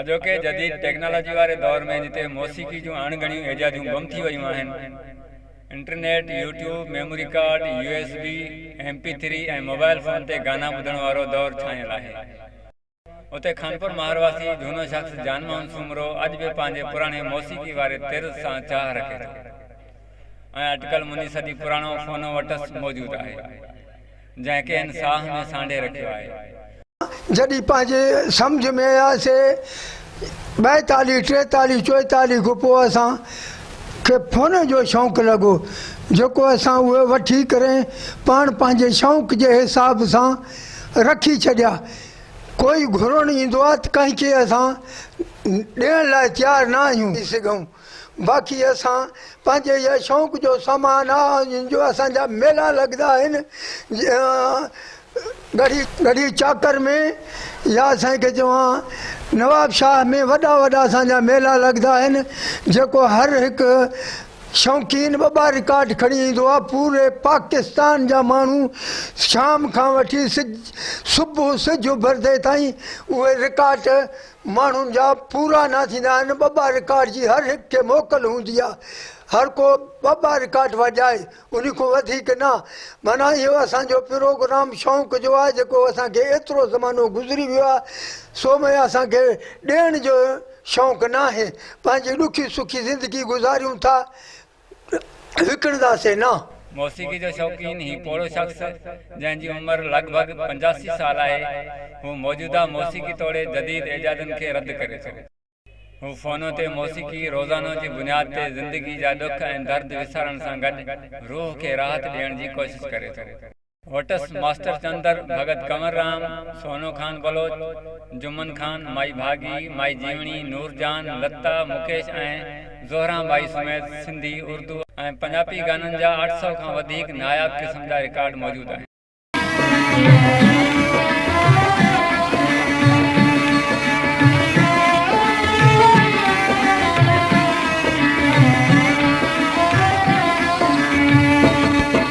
اڄوڪي جديد ٽيڪنالاجي واري دور ۾ جتي موسيقي جون اڻ ڳڻيون ايجاديون گم ٿي ويون آهن، internet, YouTube, memory card, U S B, M P three ۽ mobile phone تي گانا ٻڌڻ وارو دور ڇانيل آهي، اتي خانپور ماهر واسي جهونو شخص جان موهن سومرو اڄ به پنهنجي پراڻي موسيقي واري طرز سان چاهه رکي ٿو ۽ اٽڪل مني صدي پراڻو فونو وٽس موجود آهي. جنهن کي هن ساهه ۾ سانڍي رکيو آهي. جڏهن پنهنجي سمجهه ۾ اياسين، ٻائيتاليهه، ٽيتاليهه، چوئيتاليهه کان پوء اسان کي فونن جو شوق لڳو، جيڪو اسان اهي وٺي ڪري پاڻ پنهنجي شوق جي حساب سان رکي ڇڏيا. ڪوئي گهرڻ ايندو آهي ته ڪنهن کي اسان ڏيڻ لاء تيار نه آهيون. باقي اسان پنهنجي يا شوق جو سامان آ جن جو اسان جا ميلا لڳدا آهن ڳڙهي ڳڙهي چاڪر ۾ يا سائين کي چوان نواب شاهه ۾ وڏا وڏا اسان جا ميلا لڳدا آهن جيڪو هر هڪ شوقين ٻه ٻه رڪارڊ کڻي ايندو آ پوري پاڪستان جا ماڻهو شام کان وٺي سج صبح سج اڀرندي تائين اهي رڪارڊ ماڻهن جا پورا نه ٿيندا آهن ٻه ٻه رڪارڊ جي هر هڪ کي موڪل هوندي آهي هر ڪو ٻه ٻه رڪارڊ وڄائي انهي کون وڌيڪ نه معنيٰ اهو اسان جو پروگرام شونق جو آهي جيڪو اسان کي ايترو زمانو گذري ويو آهي سو ۾ اسان کي ڏيڻ جو شونق ناهي پنهنجي ڏکي سکي زندگي گذاريون ٿا وڪڻنداسين نه. موسيقي جو شوقين هي پوڙهو شخص، جنهن جي عمر لڳ ڀڳ پنجاسي سال آهي، هو موجوده موسيقي توڙي جديد ايجادن کي رد ڪري ٿو. هو فونو تي موسيقي روزانو جي بنياد تي زندگي جا ڏک ۽ درد وسارڻ سان گڏ روح کي راحت ڏيڻ جي ڪوشش ڪري ٿو. وٽس ماسٽر چندر، ڀڳت ڪنور رام، سونو خان بلوچ، جمن خان، مائي ڀاڳي، مائي جيوڻي، نور جان، لتا، مڪيش ۽ زهران ٻائي سميت سنڌي، اردو ۽ پنجاپي گانن جا اٺ سؤ کان وڌيڪ ناياب قسم جا رڪارڊ موجود آهن.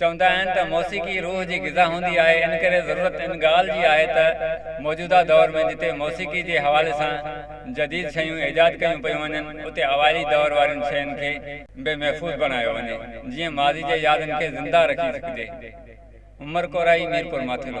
چوندا آهن ته موسيقي روح جي غذا هوندي آهي ان ڪري ضرورت ان ڳالهه جي آهي ته موجوده دور ۾ جتي موسيقي جي حوالي سان جديد شيون ايجاد ڪيون پيون وڃن اتي اوائلي دور وارين شين کي به محفوظ بڻايو وڃي جيئن ماضي جي يادن کي زنده رکي سگهجي عمر ڪورائي ميرپورماٿيلو.